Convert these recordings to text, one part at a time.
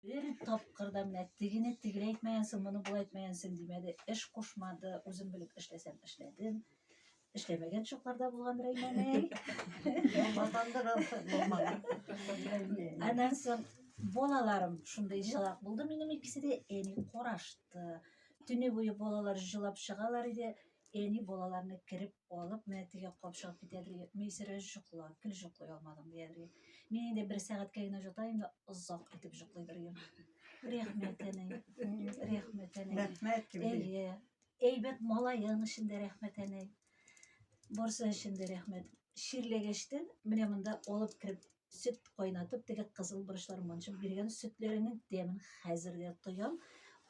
Бер тапкыр да менә тегене тегеләй әйтмәгәнсең, моны болай әйтмәгәнсең димәде, эш кушмады, үзем белеп эшләсәм эшләдем. Эшләмәгән чакларда булган Рәймәнәй. Аннан соң балаларым шундый җылак булды минем икесе дә, әни карашты. Төне буе балалар җылап чыгалар иде. Әни балаларны кереп алып, менә теге капшап китәдер. Мисерә җокла, кел җоклый алмадым дияргә. Мин инде бер сәгатькә генә җотаем да озак итеп җоклыйдыр идем. Рәхмәт әни. Рәхмәт әни. Рәхмәт кем? Әйе. Әйбәт малаен өчен дә рәхмәт әни. Барсы өчен дә рәхмәт. Ширләгәчтен менә монда алып кереп Сөт кайнатып, теге кызыл борычлар манчып биргән сөтләренең тәмен хәзер дә тоям.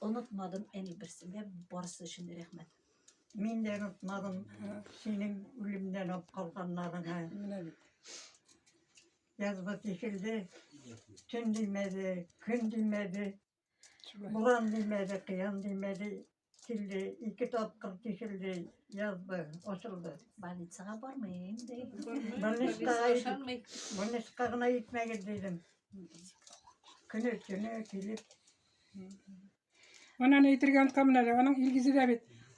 Онытмадым әни берсендә барысы өчен рәхмәт. Мин дә онытмадым синең үлемнән алып калганнарыңа. Менә бит. Язба тишелде, төн димәде, көн димәде. Буран димәде, кыян димәде, килде, ике тапкыр тишелде, язды, ачылды. Больницага бармыйм, ди. Больницага гына итмәгез дидем. Көне төне килеп. Анан әйтергә онтканмын әле, аның Илгизе дә бит